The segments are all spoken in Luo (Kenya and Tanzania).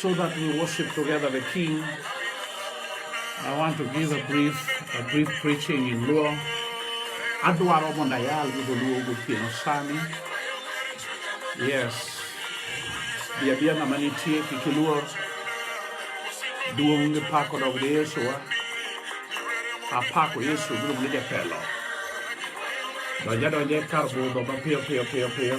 So that we worship together the King, I want to give a brief, a brief preaching in Luo. Adwaro mondo ayal gi dholuo gotieno sani. Yes. Bi abia ng'ama nitie kik iluor. Duong' gi pako dog ne Yesuwa. Apako Yesu miluongo ni jatelo. Donja donja e kar budho mapiyo piyo piyo piyo.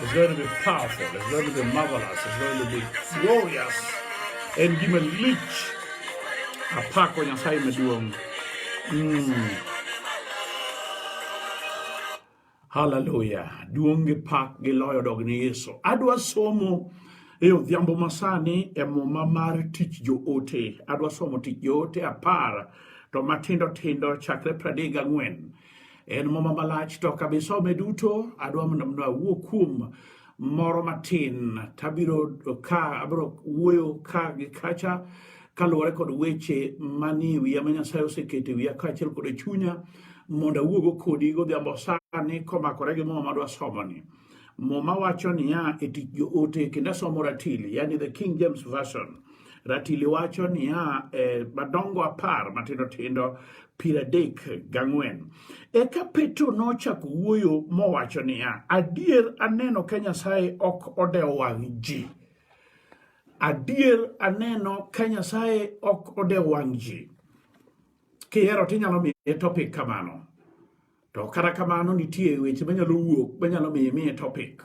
It's going to be powerful. It's going to be marvelous. It's going to be glorious. And give a leech. A pack when you're saying it to him. Hallelujah. Duonge pak gi loyo dog ni Yesu. Adwa somo e odhiambo masani e muma mar tich joote. Adwa somo tich joote apar to matindo tindo chakre pradek gang'wen. En muma malach to kabisome duto, adwa mondo mno awuo kuom moro matin, tabiro ka abiro wuoyo ka gi kacha kaluwore kod weche manie wiya ma Nyasaye oseketo e wiya kaachiel kod e chunya mondo awuogo kodi godhiambo sani komakore gi muma madwa somoni. Muma wacho niya e tich joote kendo asomo ratili, yani the King James Version. Ratili wacho niya, e, madongo apar matindo tindo piero adek gang'wen. Eka Petro nochako wuoyo mowacho niya, adier aneno ka Nyasaye ok odewo wang' ji. Adier aneno ka Nyasaye ok odewo wang' ji. Kihero tinyalo miye topic kamano. To kata kamano nitie weche manyalo wuok manyalo miyo imiye topic.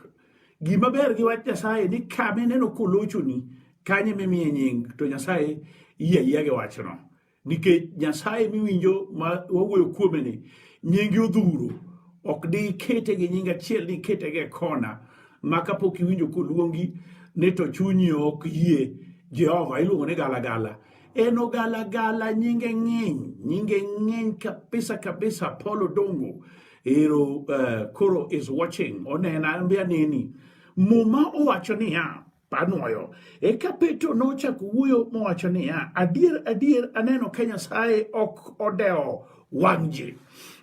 Gima ber gi wach Nyasaye ni kama ineno kolochoni kanye mimiye nying to Nyasaye yie yie gi wachno. Nikech Nyasaye miwinjo ma wawuoyo kuome ni nyingi odhuro ok di ikete gi nying achiel di ikete gi kona ma kapok iwinjo koluongi ni to chunyi ok yie Jehova iluongo ni galagala. En ogalagala nyinge ng'eny, nyinge ng'eny kabisa kabisa. Paul Odongo ero uh, koro is watching onena mbe aneni. Muma owacho niya panwoyo. Eka Petro nochako wuoyo mowacho niya, adier adier aneno ka Nyasaye ok odewo wang' ji.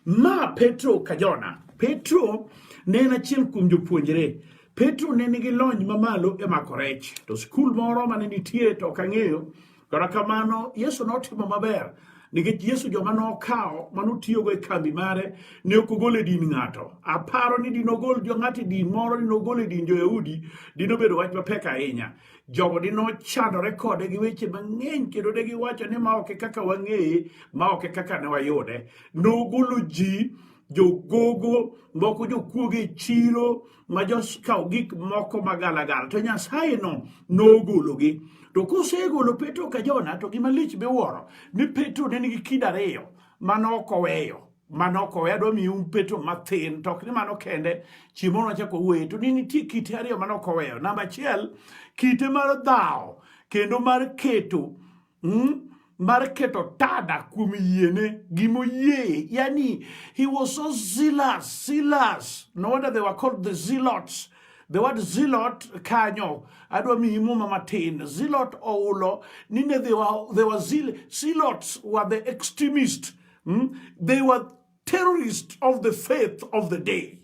Ma Petro ka Jona. Petro ne en achiel kuom jopuonjre. Petro ne nigi lony mamalo e mako rech, to skul moro mane nitie to ok ang'eyo. Kata kamano, Yesu notimo maber nikech Yesu joma nokawo ma notiyogo e kambi mare ne ok ogol e din ng'ato. Aparo ni dinogol jo ng'ato e din moro, dinogol e din jo-Yahudi, dinobedo wach mapek ahinya. Jogo dinochandore kode gi weche mang'eny kendo ne giwacho ni ma ok e kaka wang'eye, ma ok e kaka ne wayude. Nogolo ji jogogo moko jokuoge e chiro ma jokawo gik moko magalagala to nyasaye no nogologi to kosegolo petro ka jona to gima lich miwuoro ni petro ne nigi kido ariyo manok oweyo manok oweyo adwa miyo un petro mathin to ok ni mano kende chiemo nochako wuoye to ni nitie kite ariyo manok oweyo namba achiel kite mar dhawo kendo mar keto mm? mar keto tada kuom yiene gimoyie yani he was so zealous zealous no wonder they were called the zealots the word zealot kanyo adwa miyi muma matin zealot oulo nine they were, they were zeal, zealots were the extremist mm? they were terrorists of the faith of the day.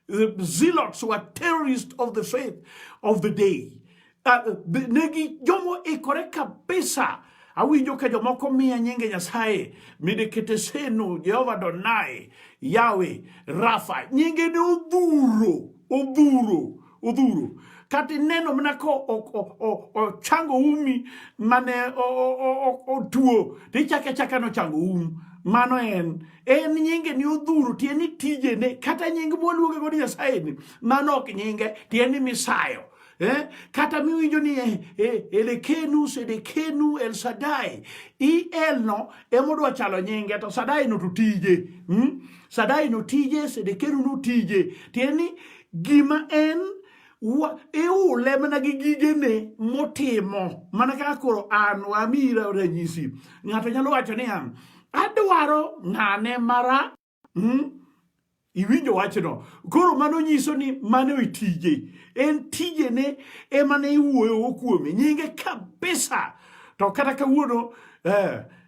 The zealots who are terrorists of the faith of the day. Uh, negi jomo ikore kabisa awinjo ka jomoko miya nyinge nyasaye midekete seno jehova donai yawe rafa nyinge ne odhuro odhuro odhuro kata ineno mana ka ochango umi mane otuo to ichako achaka nochango umu mano en en nyinge ni odhuro tiende ni tijene kata nying mwaluonge godo nyasaye ni mano ok nyinge tiende ni misayo eh? kata miwinjo ni eh, eh, elekenu sedekenu el sadai el no emodwa chalo nyinge to sadai no to tije hmm? sadai no tije sedekenu no tije tiende ni Gima en iule mana gi gigene motimo mana kaka koro an wamira ranyisi ng'ato nyalo wacho niya adwaro ng'ane mara hmm? iwinjo wachno koro mano nyiso ni mano e tije en tijene emane iwuoyo kuome nyinge kabisa to kata kawuono eh,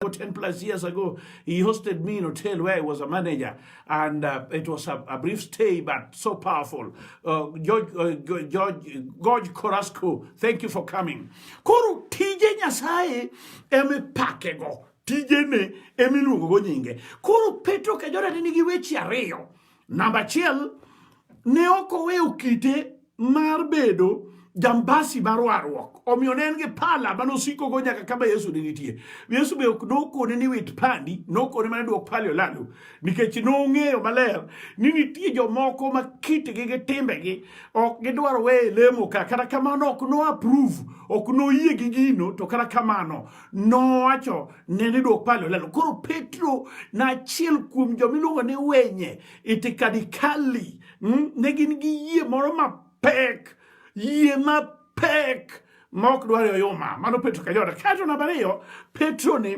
10 plus years ago, he hosted me in a hotel where I was a manager, and uh, it was a, a, brief stay, but so powerful. Uh, George, uh, George, George Corasco, thank you for coming. Koro tije nyasaye emipakego tijene emiluongogo nyinge koro petro kajorane nigi weche ariyo namba achiel ne ok oweyo kite mar bedo jambasi mar warruok omiyo ne en gi pala ma nosikogo nyaka kama yesu ne nitie yesu be ok nokone ni wit pandi nokone mana duok pali olalo nikech nong'eyo maler ni nitie jomoko ma kitgi gi timbegi ok gidwar weye lemo ka kata kamano ok no approve ok noyie gi gino to kata kamano nowacho ne ni duok pali olalo koro petro na achiel kuom jomiluongo ni wenye itikadikali Hmm? Ne gin gi yie moro mapek, yie mapek ma ok dwar oyuma. Mano Petro ka joda. Kato namba ariyo, Petro ni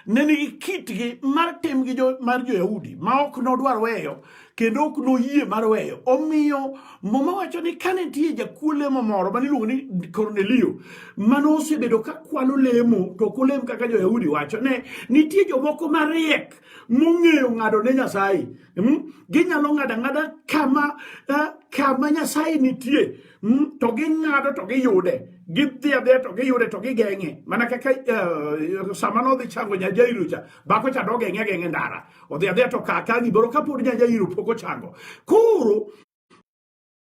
ne nigi kitgi mar tim gi jo, mar jo-Yahudi ma ok nodwar weyo kendo ok noyie mar weyo. Omiyo Muma wacho ni kane nitie jakuo lemo moro ma niluongo ni Kornelio ma nosebedo ka kwalo lemo to ok olem kaka jo-Yahudi wacho, ne nitie jomoko mariek mong'eyo ng'ado ne Nyasaye. Hmm? Ginyalo ng'ado ang'ada kama eh, kama Nyasaye nitie hmm? to ging'ado to giyude gidhi adhiya to giyude to gigeng'e mana kaka eh, sama nodhi chango Nyajairu cha bako cha dogeng'e ageng'e ndara odhi adhiya to kaka giboro kapod Nyajairu pok ochango koro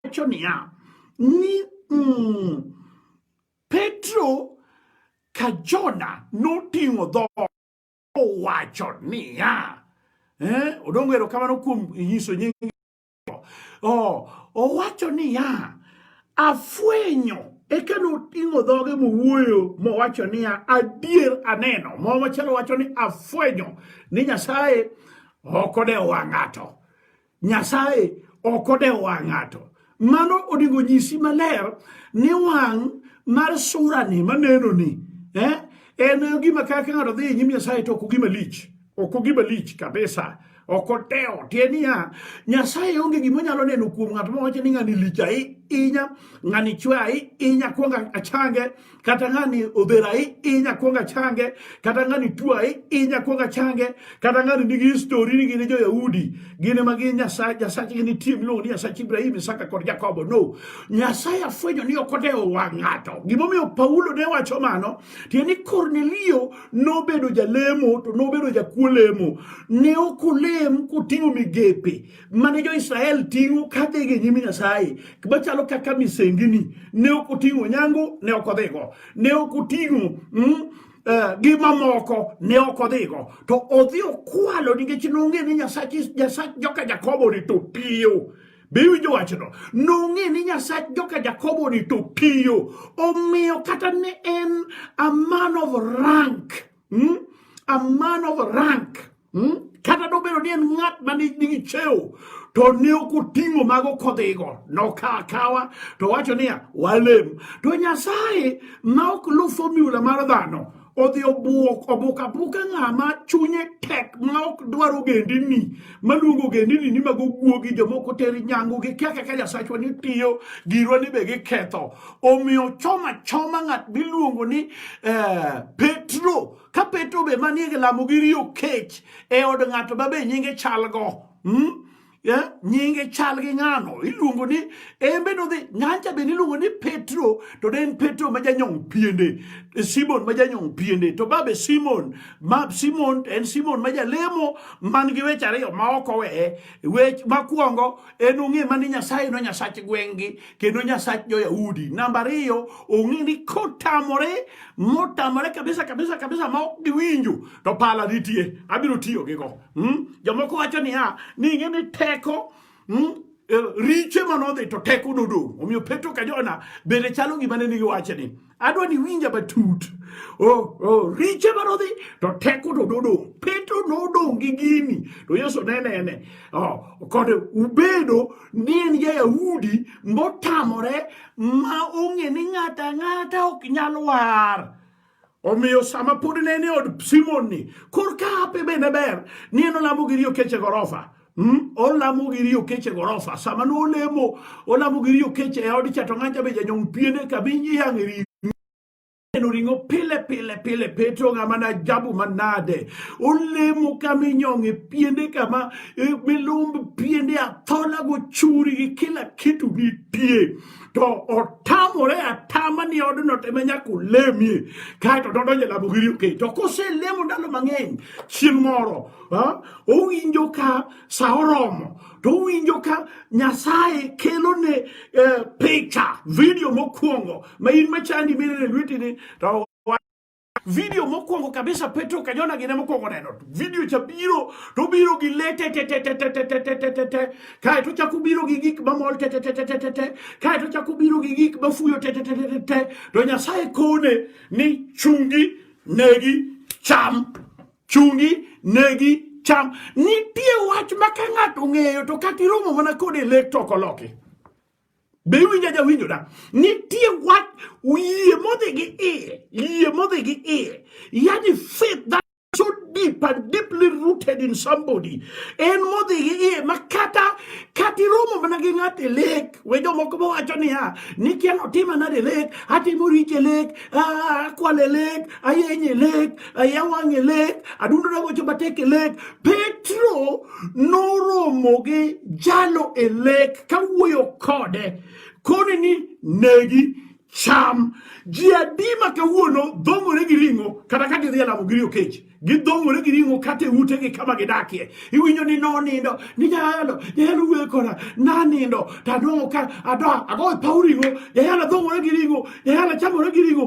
wacho niya ni mm, Petro ka Jona noting'o dhoot owacho niya eh, odongo erokamano kuom nyiso nying oh, owacho niya afwenyo eka noting'o dhoge mowuoyo mowacho niya adier aneno mo machalo wacho ni afwenyo ni nyasaye ok odewo ng'ato Nyasaye ok odewo wang' ng'ato. Mano onego nyisi maler ni wang' mar surani manenoni eh, en gima kaka ng'ato dhi e nyim Nyasaye to ok ogima lich, ok ogima lich kabisa ok odewo tie niya nyasaye onge gima onyalo neno kuom ng'at mawacho ni ng'ani lich ahinya ng'ani chwe ahinya kwonga achange kata ng'ani odhera i inya kwonga change kata ng'ani tua i inya kwonga change kata ng'ani nigi histori ni gine joyahudi gine ma gin nyasachgi nitie miluongo ni nyasach ibrahim isaka kod jakobo no nyasaye afwenyo ni ok odewo wang' ng'ato gimomiyo paulo ne wacho mano tiende ni kornelio nobedo jalemo to nobedo jakuo lemo ne ok olem koting'o migepe mane jo-Israel ting'o kadhi gi nyim Nyasaye machalo kaka misengini ne ok oting'o nyangu ne ok odhigo ne ok oting'o mm, eh, gi mamoko ne ok odhigo to odhi okwalo nikech nong'e ni nyasach joka jakobo ni to piyo be iwinjo wachno nong'e ni nyasach joka jakobo ni to piyo omiyo kata ne en a man of rank mm? a man of rank mm? kata nobedo ni en ng'at ma nigi cheo to ne ok oting'o mago kodhigo nokawa kawa to wacho niya walem to nyasaye ma ok lu fomula mar dhano odhi obuok obuk abuka ng'ama chunye tek ma ok dwar ogendini maluongo ogendini ni mago guogi jomoko ter nyangu gi kia kaka nyasachwa ni tiyo girwa ni be giketho omiyo choma choma ng'at miluongo ni eh, petro ka petro be manie gi lamo gi riyo kech e od ng'ato ma be nyinge chalgo hmm? yeah? nyinge chal gi ng'ano iluongo ni embe nodhi ng'ancha be niluongo ni petro to ne en petro ma janyong piende simon ma janyong piende to babe simon ma simon en simon ma jalemo man gi weche ariyo ma ok oweye wech makwongo en ong'e mani nyasaye no nyasach gweng'gi kendo nyasach jo-yahudi namba ariyo ong'e ni kotamore motamore kabisa kabisa kabisa ma ok giwinjo to pala nitie abiro tiyo gi go hmm? jomoko wacho niya ni ing'e ni teko hmm? e, riche manodhi to teko nodong' omiyo petro ka jona bende chalo gima ne nigi wachni adwa ni winja matut oh, oh, riche manodhi to teko to nodong' petro nodong' gi gini to yesu ne nene oh, kod ubedo ni en ja-yahudi motamore ma ong'e ni ng'ata ng'ata ok nyal war omiyo sama pod ne ni od simon ni korka ape bende ber ni en olamo gi riyo keche gorofa Mm, olamo gi riyo keche gorofa sama no olemo olamo gi riyo keche e od chato ng'anja be janyong piene ka bi yang'e riyo neno ring'o pile pile pile petro ng'ama na jabu manade olemo kama inyong'e piende kama e, milumb piende athola gochuri gi kila kitu nitie to otamore atama ni odno teme nyaka olemie kaeto dodonje lamo gi riyo keche to koselemo ndalo mang'eny chieng' moro owinjo ka sa oromo to owinjo ka nyasaye kelone eh, picha vidio mokwongo ma in machandi minene lwetini to video mokwongo kabisa petro kajona gine mokwongo neno video cha biro to biro gi lete tetetetetetetetete kae to chako biro gi gik mamol tetetetetetete kae to chako biro gi gik mafuyo tetetetetete to nyasaye kone ni chungi negi cham chungi negi cham nitie wach ma ka ng'ato ng'eyo to kata iromo mana kod e lek toko loki be iwinja jawinjo da nitie wach yie modhi gi iye yie modhi gi iye yani faith that so deep and deeply rooted in somebody en modhi gi iye ma kata kata iromo mana gi ng'at e lek we jomoko ma wacho niya ni kiano tima nade lek atimo riche lek akwale lek ayenye lek ayawang'e lek adundona gocho matek e lek petro noromo gi jalo e lek kawuoyo kode koni ni negi cham ji adi ma kawuono dhong'ore gi ring'o kata ka gidhi e lamo giri okech gidhong'ore gi ring'o kata e utegi kama gidakie iwinjo ni nonindo ni jayalo jayalo wuoyo koda nanindo to adong'o ka adoa agoyo paw ring'o jayalo dhong'ore gi ring'o jayalo chamore gi ring'o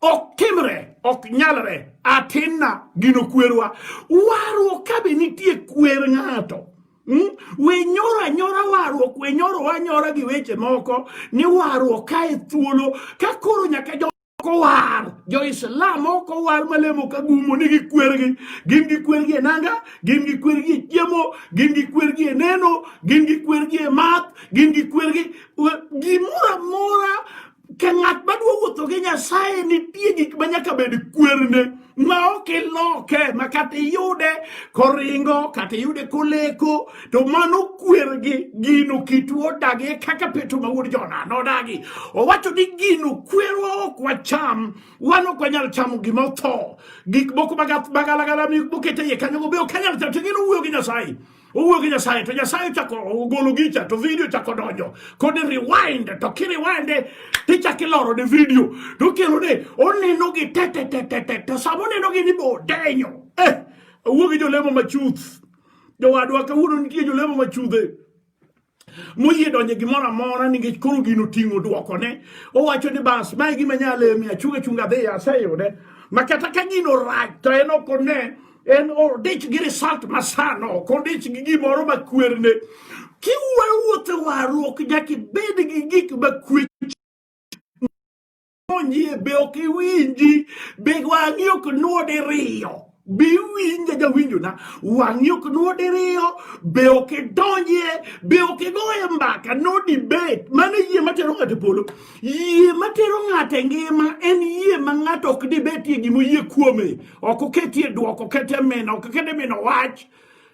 ok timre ok nyalre atinna gino kwerwa warruok ka be nitie kwer ng'ato hmm? we nyoro anyora warruok we nyoro anyora gi weche moko ni warruok ka e thuolo ka koro nyaka jo kowar jo-islam okowar malemo ka gumo ni gikwergi gin gikwergi e nanga gin gikwergi e chiemo gin gikwergi e neno gin gikwergi e math gin gikwergi gimoro amora ka ng'at madwa wuotho gi nyasaye nitie gik ma nyaka bed kwerne ma ok iloke ma kata iyude koringo kata iyude koleko to mano kwergi gino kitu odagi kaka peto ma wuod jona nodagi owacho ni gino kwerwa ok wacham wan ok wanyal chamo gima otho gik moko magalagala mokete iye kanyogo be ok anyal chamo to gino wuoyo gi nyasaye owuoyo gi Nyasaye to Nyasaye ochako ogolo gicha to video chako donjo kod rewind to kiriwinde tichako iloro ne video to kelo ne oneno gi tetetetete to sama oneno gi ni bo denyo eh owuoyo gi jolemo machuth jowadwa kawuono nitie jolemo machudhe moyie donje gimoro amora nikech koro gino ting'o dwokone owacho ni bas mae gima nyale mi achung' achung' adhi aseyude ma kata ka gino rach to en ok one en odich gi result masano ok odich gi gimoro makwerne kiwuoyo wuothe warruok nyaka ibed gi gik makwe Onye be ok iwinji, be wang'i ok nuo diriyo. Be iwinja jawinjona, wang'i ok nuo diriyo, be ok idonjie, be ok igoye mbaka, no debate. Mano e yie matero ng'ato e polo. Yie matero ng'ato e ngima en yie ma ng'ato ok dibetie gima oyie kuome. Ok oketie dwoko, ok oketie mino, ok oketie mino wach.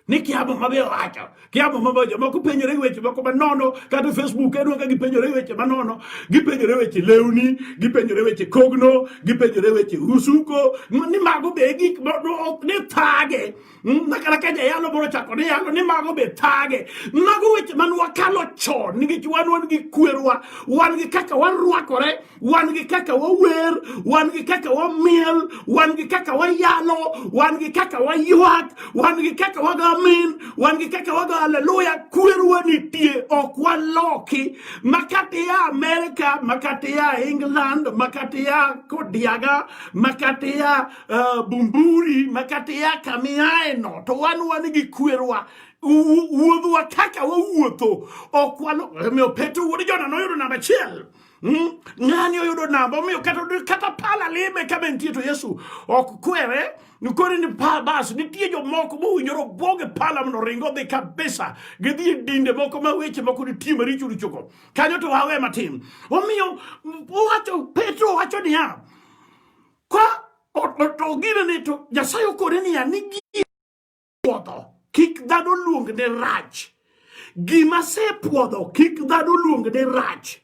ni kiamo mabe wacho kiamo mabe wacho moko penjore gi weche moko manono kata facebook en waka gipenjore weche manono gipenjore weche lewni gipenjore weche kogno gipenjore weche usuko ni mago be gik ok ni thage hmm, nakana ka jayalo boro chako ni yalo ni mago be thage mago weche man wakalo chon nikech wan wan gi kwerwa wan gi kaka warwakore wan gi kaka wawer wan gi kaka wamiel wan gi kaka wayalo wan gi kaka waywak wan gi kaka wago amin wan gi kaka wago haleluya kwerwa nitie ok waloki makata ya amerika makata ya england makata ya kodiaga makata ya uh, eh, bumburi makata ya kamiaeno to wan wan gi kwerwa wuodhwa kaka wawuotho ok walo omiyo petro wuod jona noyudo namba achiel Hmm? Ng'ani oyudo namba omiyo kata, kata pala lime ka be nitie to Yesu ok kwere nikore ni pa bas nitie jomoko mowinjore obwoge pala mondo ringo dhi kabisa gidhi e dinde moko ma weche moko nitie maricho richogo kanyo to wawe matin omiyo owacho Petro wacho niya ka to gine ni to Nyasaye okore niya ni puodho kik dhano luong ne rach gima sepuodho kik dhano luong ne rach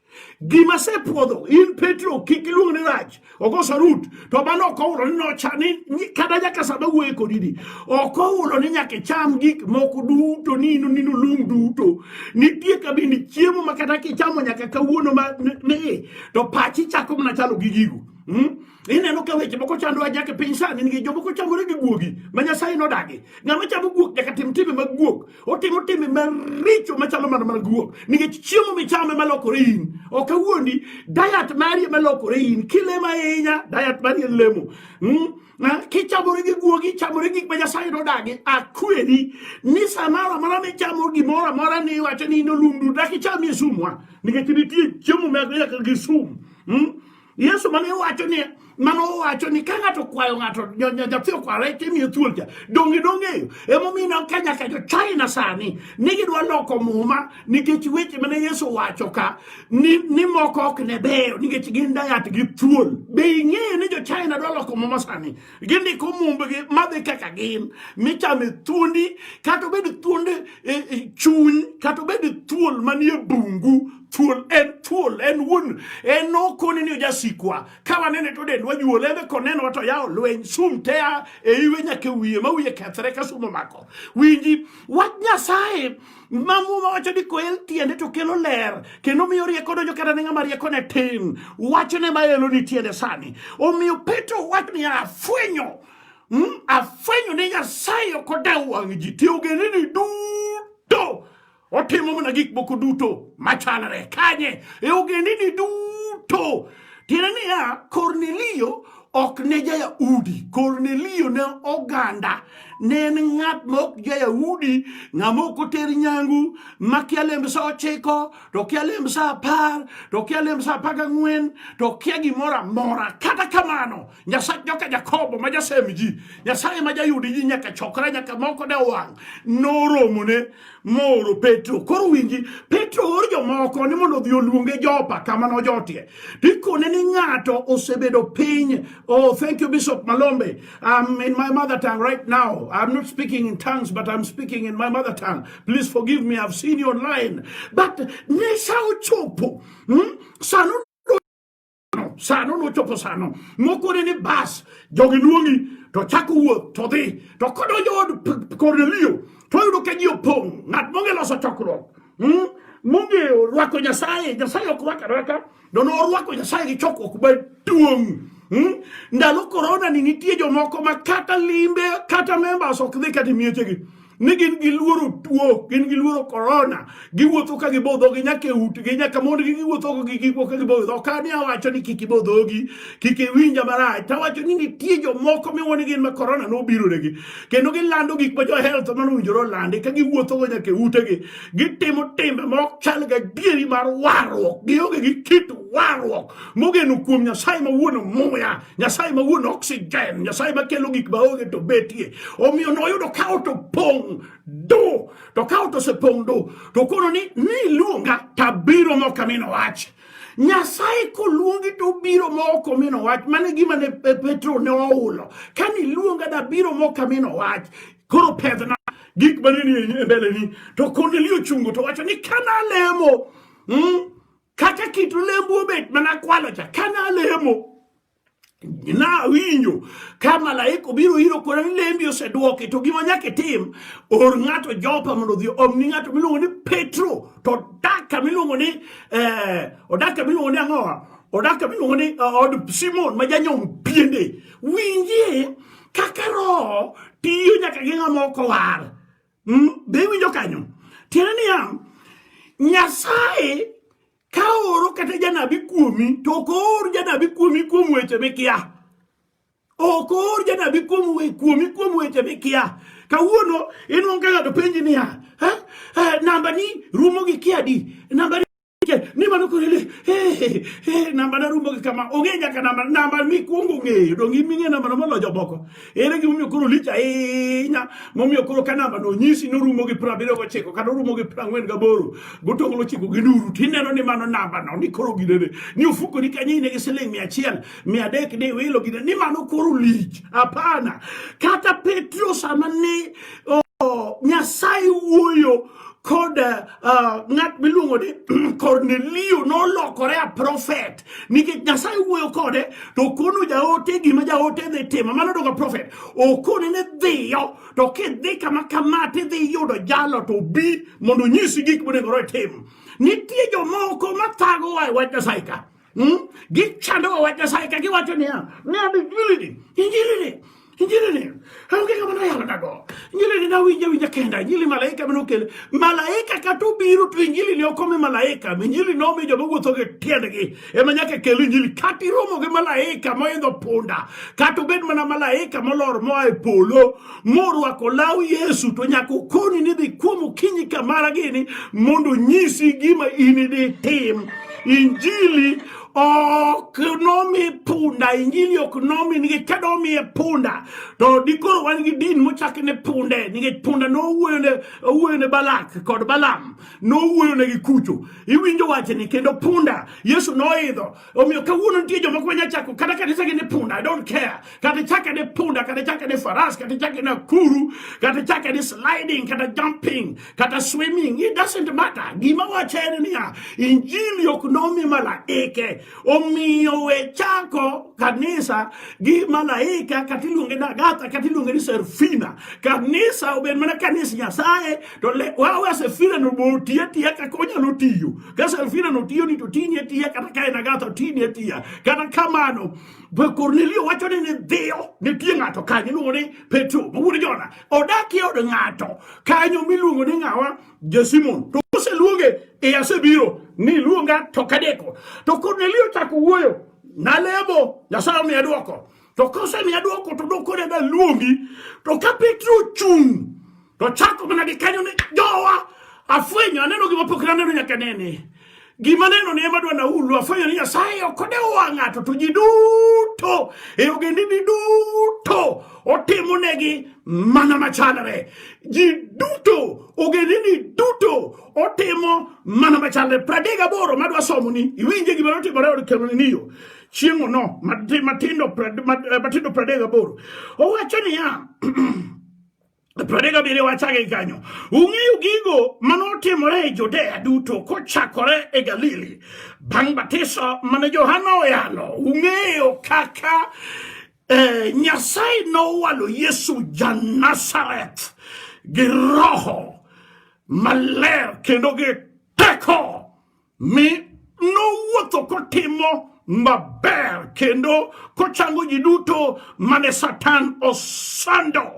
gima sepuodho in petro kik iluong ne rach okoso rut to mano ok ohulo ni nocha ni kata nyaka sama wuoye kodi ni ok ohulo ni nyaka icham gik moko duto ni ino nino lung duto nitie kabindi chiemo ma kata kichamo nyaka kawuono ma ne to pachi chako mana chalo gi gigo hmm? Ineno ka weche moko chando ajake piny sani nigi jomoko chamore gi guogi ma Nyasaye nodagi. Ng'ama chamo guok nyaka tim timbe mag guok. Otimo timbe maricho machalo mana mana guok. Nikech chiemo michame malokore in. Ok awuondi, diet mari malokore in. Kilema ahinya, diet mari en lemo. Mm? Na, kichamore gi guogi, chamore gik ma Nyasaye nodagi. Akweri ni samoro amora michamo gimoro amora ni iwacho ni in olundu, dak ichamie sumwa. Nikech nitie chiemo ma nyaka gi sum. Mm? Yesu mane wacho ni mano owacho ni ka ng'ato kwayo ng'ato nyathi okware timiyo thuol cha donge dong'eyo emomiyo ka nyaka jo china sani ni gidwa loko muma nikech weche mane yesu wacho ka ni, ni moko ok ne beyo nikech gin dayat gi thuol be ing'eyo ni jo china dwa loko muma sani gindiko mumbgi madhi kaka gin michame thuondi kata obed thuond e, e, chuny kata obed thuol manie bungu thuol en thuol en wuon en nokoni ni ojasikwa ka wanene to dend wajuol embe konenowa to yawo lweny sum tea e iwe nyaka e wiye ma wiye kethre ka sum omako winji wach nyasaye ma muma wacho ni koel tiende to kelo ler kendo miyo rieko donjo kata ne ng'ama rieko ne tin wachone ma elo ni tiende sani omiyo petro wacho ni afwenyo mm, afwenyo ni nyasaye ok odew wang' ji ti ogendini duto otimo mana gik moko duto machalre kanye e ogendini duto Tiende niya, Kornelio ok ne ja-Yahudi. Kornelio ne oganda, ne en ng'at ma ok ja-Yahudi, ng'ama ok oter nyangu, ma kia lemb sa ochiko, to kia lemb sa apar, to kia lemb sa apar gang'wen, to kia gimoro amora. Kata kamano, Nyasach joka Jakobo ma jasem ji, Nyasaye ma jayudi ji nyaka chokre nyaka moko da wang' noromone mooro Petro. Koro winji, Petro oor jomoko ni mondo odhi oluonge Jopa kama nojotie. Tikone ni ng'ato osebedo piny. Oh, thank you Bishop Malombe. I'm in my mother tongue right now. I'm not speaking in tongues but I'm speaking in my mother tongue. Please forgive me. I've seen you online. But ne sa ochopo. Hmm? Sanu sano nochopo sano mokone ni bas jogi luongi to chako wuoth to dhi to kodonjo od kornelio to oyudo ka ji opong' ng'at monge loso chokruok hmm? monge orwako nyasaye nyasaye ok rwaka rwaka dono orwako nyasaye gi chokruok maduong' hmm? ndalo korona ni nitie jomoko ma kata limbe kata members ok dhi kata miechegi ni gin giluoro tuo gin giluoro korona giwuotho ka gibo dhogi nyaka e utgi nyaka mondgi giwuothogo gi gikwo ka gibo dho ka ni awacho ni kik ibo dhogi kik iwinja marach to awacho ni nitie jomoko miwo ni gin ma korona nobironegi kendo gilando gik ma johelth mano owinjore olandi ka giwuothogo nyaka e utegi gitimo timbe ma ok chal ga dieri mar warruok gionge gi kit warruok mogeno kuom nyasaye mawuon muya Nyasaye ma wuon oxygen, Nyasaye ma kelo gik ma onge to betie. Omiyo noyudo ka ot opong' do, to ka ot osepong' do, to kono ni niluonga tabiro mok amino wach. Nyasaye koluongi to obiro ma ok omino wach. Mane gima ne Petro ne ohulo. Ka niluonga dabiro ma ok amino wach. Koro pedhna gik mane ni e mbeleni. To Kornelio ochungo to wacho ni kana lemo, mm, Kata kit olembu obet mana kwalo cha kana alemo na winjo ka malaika obiro iro kona ni lembi osedwoki to gima nyaka itim or ng'ato jopa mondo odhi omni ng'ato miluongo ni petro to odak kama iluongo ni eh, odak kama iluongo ni ang'owa odak kama iluongo ni eh, od simon ma janyom piende winjie kaka roho tiyo nyaka gi ng'ama ok owar Mm, be iwinjo kanyo? Tiende niya, Nyasaye ka ooro kata janabi kuomi to ok oor janabi kuomi kuom weche mikia. Ok oor janabi kuom we kuomi kuom weche mikia. Kawuono inuang' ka ng'ato penji niya, eh, eh, namba ni rumo gi kia di? Namba ni mano korele eh eh namba na rumo kama onge nyaka namba namba mi kuongo ngeyo dong in minge namba ma lojo boko ere gi momiyo koro licha inya momiyo koro ka namba no nyisi no rumo gi pra biro gochiko kata rumo gi pra ngwen gaboro gotongo lo chiko gi nuru tineno ni mano namba no ni koro gidene ni ufuko ni kanyi ne giseling mia chiel mia dek ni wilo gidene ni mano koro lich hapana kata petro sama ni oh, nyasaye wuoyo kod uh, ng'at miluongo ni Kornelio nolokore a profet nikech Nyasaye wuoyo kode to okono jaote gima jaote dhi timo mano doga profet okone ne dhiyo to kidhi kama kama tidhi yudo jalo to bi mondo onyisi gik monego itim nitie jomoko mathagowa e wach Nyasaye ka Hmm? Gicha ndo wajasaika giwacho niya, ng'ado injilini, injilini, injilini. Onge kama noyalo dago. Injilini nawinja winja kenda, injili malaika mane okele. Malaika kata obiro to injilini ok omi malaika, injili nomi joma wuotho gi tiendgi. Ema nyaka kel injili. Kata iromo gi malaika moidho punda, kata obed mana malaika molor moa e polo, morwako law Yesu to nyaka okoni ni dhi kuom okinyi kamara gini mondo onyisi gima in idhi tim. Injili ok nomi punda injili ok nomi nikech ka domiye punda to dikoro wan gi din mochak ne punde nikech punda nowuoyo ne balak kod balam nowuoyo ne gi kucho iwinjo wachni kendo punda yesu noidho Omiyo kawuono nitie joma kwe nyachako kata kanisa gi ni punda, I don't care. Kata chake ni punda, kata chake ni faras, kata chake ni akuru, kata chake ni sliding, kata jumping, kata swimming. It doesn't matter. Gima wacho en niya, injili ok nomi malaike. Omiyo we chako kanisa gi malaika kata iluonge ni Agatha kata iluonge ni Serfina. Kanisa obed mana kanisa Nyasaye to le wawe asefira no bo tie tie ka konya no tiyo ka asefira no tiyo ni to tinye tie kata ka ena gato tinye tie kata kamano be Cornelio wacho ni dhiyo ne tie ngato kanyo iluongo ni Petro ma wuod Jona odakie od ngato kanyo miluongo ni ngawa Jesimon to oseluonge e asebiro ni luonga to kadeko to Cornelio chako wuoyo nalemo Nyasaye omiya dwoko To kosemiya dwoko to dokone da luongi. To ka Petro ochung' to chako mana gi kanyo ni jowa afwenyo aneno gima pok naneno nyaka nene. Gima neno ni ema dwa naulu afwenyo ni Nyasaye ok odewo wang' ng'ato to ji duto e ogendini duto otimo negi mana machalre. Ji duto ogendini duto otimo mana machalre. Pradega boro madwa somo ni iwinje gima notimore od Kornelio. chieng'ono matindo eh, matindo pradek gaboro owacho niya pradek abiriyo wachage kanyo ung'eyo gigo mane otimore e judea duto kochakore e galili bang' batiso mane johana oyalo ung'eyo kaka eh, nyasaye nowalo yesu janazareth gi roho maler kendo gi teko Mi nowuotho kotimo maber kendo kochango ji duto mane Satan osando.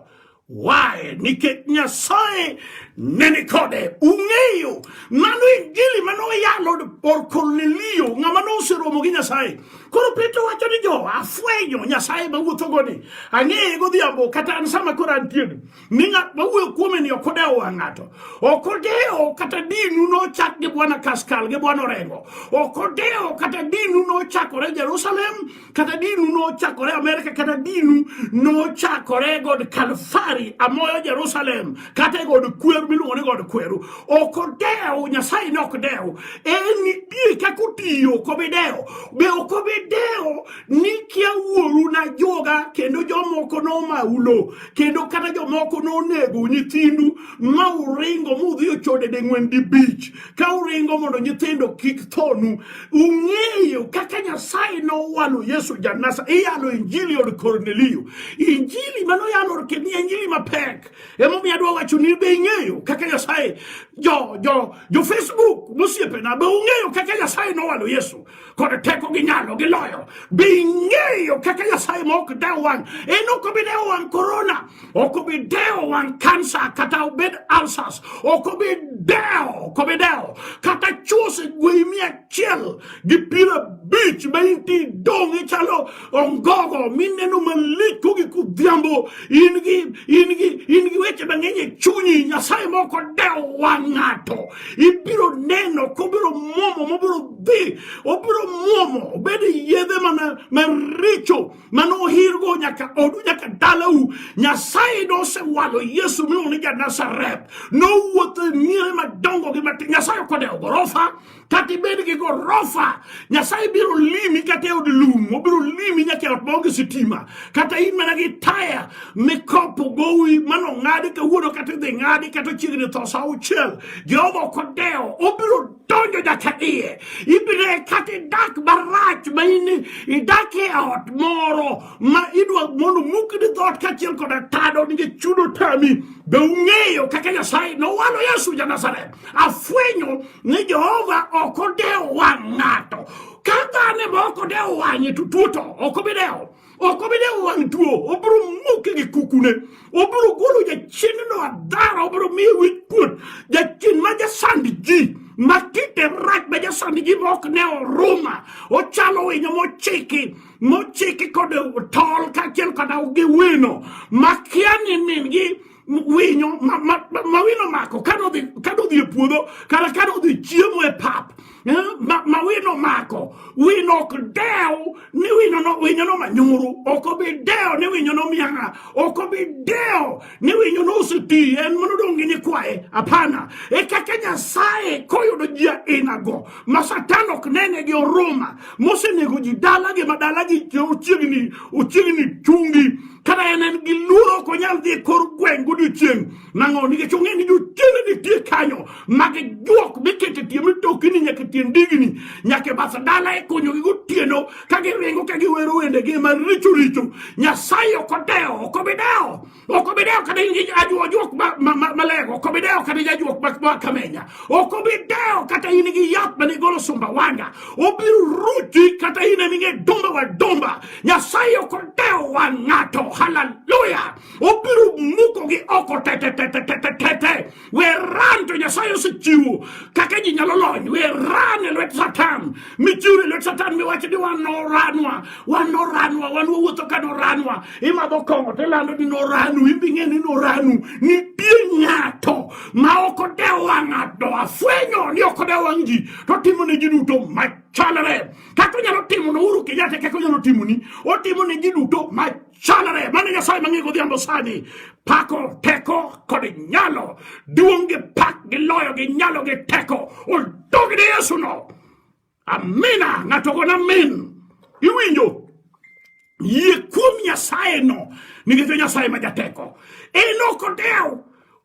Wae nikech Nyasaye ne ni kode. Ung'eyo mano injili ma noyalo or Kornelio ng'ama noseromo gi Nyasaye. Koro Petro wacho ni jo afwenyo Nyasaye ma wuothogo ni ang'eye godhiambo kata an sama koro antiere. ni ng'at ma wuoyo kuome ni ok odewo wang' ng'ato ok odewo kata dinu nochak gi bwana kaskal gi bwana orengo ok odewo kata dinu nochakore jerusalem kata dinu nochakore amerika kata dinu nochakore god kalfari amoyo jerusalem kata e god kweru miluongo ni god kweru ok odewo nyasaye ne ok dewo en nitie kaka otiyo ok obi dewo be ok obi dewo ni kia wuoru na joga kendo jomoko nomaulo kendo kata jomoko nonego nyithindu ma uringo mudhi ochode deng'wen di bich ka uringo mondo nyithindo kik thonu ung'eyo kaka nyasaye nowalo yesu janasa iyalo injili od kornelio injili manoyalo kendo injili mapek emomiyo adwa wacho ni be ing'eyo kaka nyasaye jo jo jo facebook mosiepena be ung'eyo kaka nyasaye nowalo yesu kod teko gi nyalo gi loyo be ing'eyo kaka nyasaye ma ok dewo wang' en ok obi dewo wang' korona ok obi dewo wang' kansa kata obed alsas ok obi dewo ok obi dewo kata chuse gwei mia achiel gi piero abich ma inti dong' ichalo ongogo mineno malich kogi kudhiambo in gi in gi in gi weche mang'eny e chunyi nyasaye ma ok odewo wang' ng'ato ibiro neno kobiro muomo mobiro dhi obiro muomo obed yedhe mana maricho mane ohirgo nyaka odu nyaka dalau nyasaye nosewalo yesu miluongo ni ja nazareth nowuotho e miere madongo gi matin nyasaye ok odewo gorofa kata ibed gi gorofa nyasaye biro limi kata e od lum obiro limi nyaka e ot maonge sitima kata in mana gi taya mikopo gowi mano ng'adi kawuono kata idhi ng'adi kata chiegni tho sa auchiel jehova ok odewo obiro donjo nyaka iye ibiro e kata idak marach ma in idak e ot moro ma idwa mondo mukni dhoot kaachiel koda tado nikech chudo tami be ung'eyo kaka nyasaye nowalo yesu ja nazareth Afwenyo ni Jehova ok odewo wang' ng'ato. Ka dhano ema ok odewo wang'e to tuo to ok obi dewo. Ok obi dewo wang' tuo, obiro muke gi kukune. Obiro golo jachiendno adhara, obiro miye wich kuot. Jachien ma jasand ji ma kite rach ma jasand ji ma ok ne oruma, ochalo winyo mochiki mochiki kod tol kaachiel kod gi wino ma kia ni min-gi winyo ma, ma, ma, ma wino mako ka nodhi ka nodhi e puodho kata ka nodhi chiemo e pap eh, ma, ma wino mako wino ok dew ni wino no, winyo no manyuru ok obi dew ni winyo no mianga ok obi dew ni winyo no oseti en mano dongi ni kwaye hapana e kaka nyasaye koyudo ji ainago ma satan ok nene gi oruma mosenego ji dalagi ma dalagi ochiegni ochiegni chungi kata en en gi luoro ok onyal dhi e kor gweng' godiochieng' nang'o nikech ong'e ni jochiende nitie kanyo mag juok mikete tie mitokini nyaka tie ndigni nyaka e bath dala e konyogi gotieno ka giringo ka giwero wendegi ma richo richo nyasaye ok odewo ok obidewo ok obi dewo kata ajuok malego ok obi dewo kata jajuok ma kamenya ok obi dewo kata in gi yath mane igolo sumba wanga obiro ruti kata in eming'e dumba wa dumba nyasaye ok odewo wa ng'ato haleluya obiro mukogi oko tetetetetetete we ran to nyasaye osechiwo kaka ji nyalo lony we ran e lwet satan michiwre e lwet satan miwacho ni wan noranwa wan noranwa wan wawuotho ka noranwa imadho kong'o to ilando ni noranu imbi ng'e ni noranu nitie ng'ato ma ok odewo wang' ng'ato afwenyo ni ok odewo wang' ji to timo ne ji duto machalre kaka onyalo timo ne Uhuru Kenyatta kaka onyalo timo ni otimo ne ji duto machalre chalre mane Nyasaye mang'e godhiambo sani pako teko kod nyalo duong' gi pak gi loyo gi nyalo gi teko odog ne Yesu no amina ng'ato gona min iwinjo yie kuom Nyasaye no nikech Nyasaye ma jateko en ok odew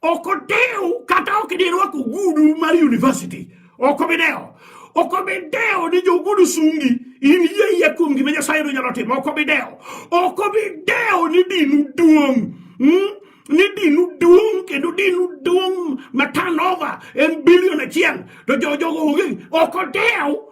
Ok odew kata ok dirwako ogudu mar university. Ok obi dewo. Ok obi dewo ni jogudu sungi in yie yie kuom gima Nyasaye nyalo timo. Ok obi dewo. Ok obi dewo ni dinu duong'. Hmm? ni dinu duong' kendo dinu duong' ma turnover en bilion achiel to jojogo onge ok odewo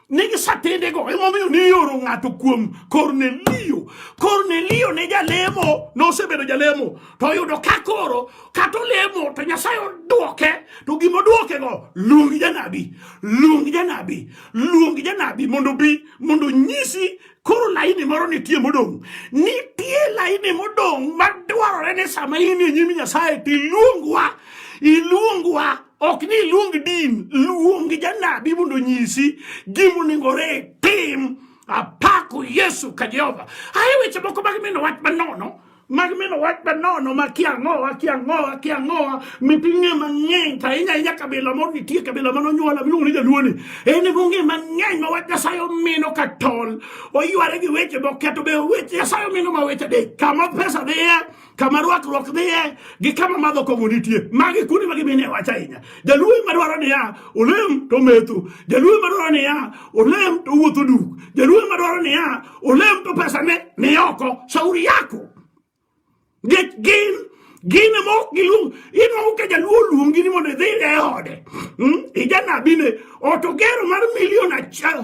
ne gisatendego emomiyo nioro ng'ato kuom kornelio kornelio ne jalemo nosebedo jalemo to oyudo ka koro kata olemo to nyasaye odwoke to gima odwokego luong janabi luong janabi luong janabi mondo bi mondo nyisi Koro laini moro nitie modong'. Nitie laini modong' madwarore ni sama in e nyim Nyasaye to iluongwa, iluongwa ok ni iluong din, luong janabi mondo onyisi gima onego tim. Apako Yesu ka Jehova. Aye weche moko mag mino wach manono Mag mino wach ma nono ma kia ang'owa kia ang'owa kia ang'owa miting'e mang'eny to ahinya ahinya kabila moro nitie kabila ma nonyuola miluongo ni jaluoni en ema ong'e mang'eny ma wach nyasaye omino ka tol oyware gi weche moketo be weche nyasaye omino ma weche adek kama pesa dhiye kama rwakruok dhiye gi kama madho kong'o nitie magi kuonde ma gimine wach ahinya jaluo ema dwaro niya olem to metho jaluo ema dwaro niya olem to wuotho duk jaluo ema dwaro niya Ule mtu pesa ne, ne yoko shauri yako get gin gine mo gilu ino ke jaluo luongi ni mondo idhi e ode hmm? ijanabi ne ot ogero mar milion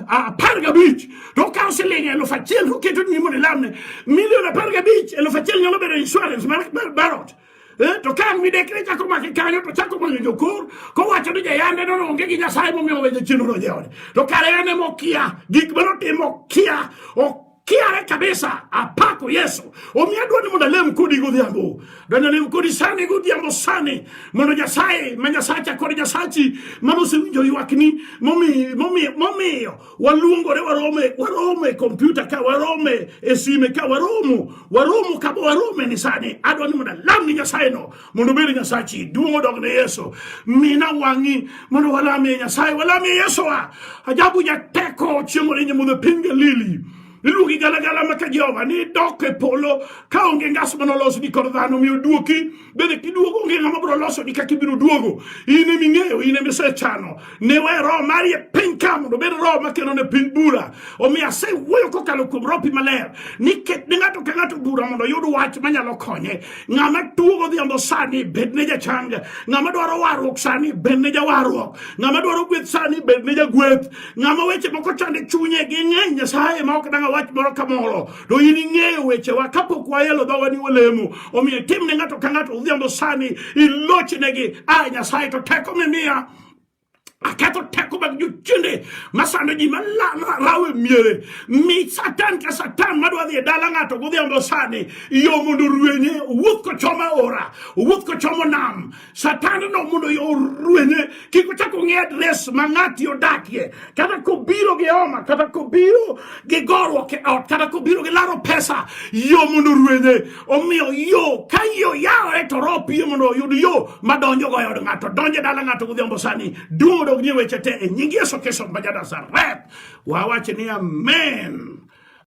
apar gabich to okawo siling elufu achiel to oketo ni mondo ilamne milion apar gabich elufu achiel nyalo bedo insurance mar, mar, mar ot Eh, to ka an midekre chako make kanyo to chako manyo jokor kowacho ni jayande no onge gi nyasaye momiyo owejo chenro no jeode to kare en ema okia gik ma notimo okia okiare kabisa apako yesu omiyo adwa ni mondo alem kodi godhiambo donyo lem kodi sani godhiambo sani mondo nyasaye ma nyasacha kod nyasachi mane osewinjo ywakni momiyo waluongore warome warome kompyuta ka warome e sime ka waromo waromo kama warome ni sani adwa ni mondo alam ni nyasaye no mondo obed nyasachi duong' odog ne yesu mina wang'i mondo walamie nyasaye walamie yesuwa ajabu jateko chieng' orinye mudho piny galili iluongi galagala ma ka Jehova ni dok e polo ka onge ngas ma nolos ni kor dhano mi oduoki bende kiduogo onge ng'ama biro loso ni kaka ibiro duogo in emi ng'eyo in emi isechano ne we roho mari e piny ka mondo obed roho ma kelo ne piny bura omiyo asewuoyo kokalo kuom ropi maler ni ket ne ng'ato ka ng'ato bura mondo oyud wach manyalo konye ng'ama tuo godhiambo sani bed ne jachang ng'ama dwaro warruok sani bed ne jawarruok ng'ama dwaro gweth sani bed ne jagweth Ng'ama weche moko chande chunye gi ng'eny Nyasaye ma ok danga wach moro ka moro. Do in ing'eyo wechewa kapok wayelo dhowa ni walemo. Omiyo tim ne ng'ato ka ng'ato odhiambo sani ilochnegi. A Nyasaye to teko mimiya aketho teko mag jochiende masando ji malawe miere mi satan ka satan madwa dhi e dala ng'ato godhiambo sani yo mondo rwenye owuoth kochomo aora owuoth kochomo nam Satan no mondo orwenye kik ochak ong'e adres ma ng'ati odakie kata kobiro gi homa kata kobiro gi goruok e ot kata kobiro gi laro pesa yo mondo orwenye omiyo yo ka yo yawore to roho piyo mondo oyud yo madonjo go e od ng'ato donje dala ng'ato godhiambo sani duong' odog ni weche te e nying Yesu Kristo ma jadasareth wawache ni amen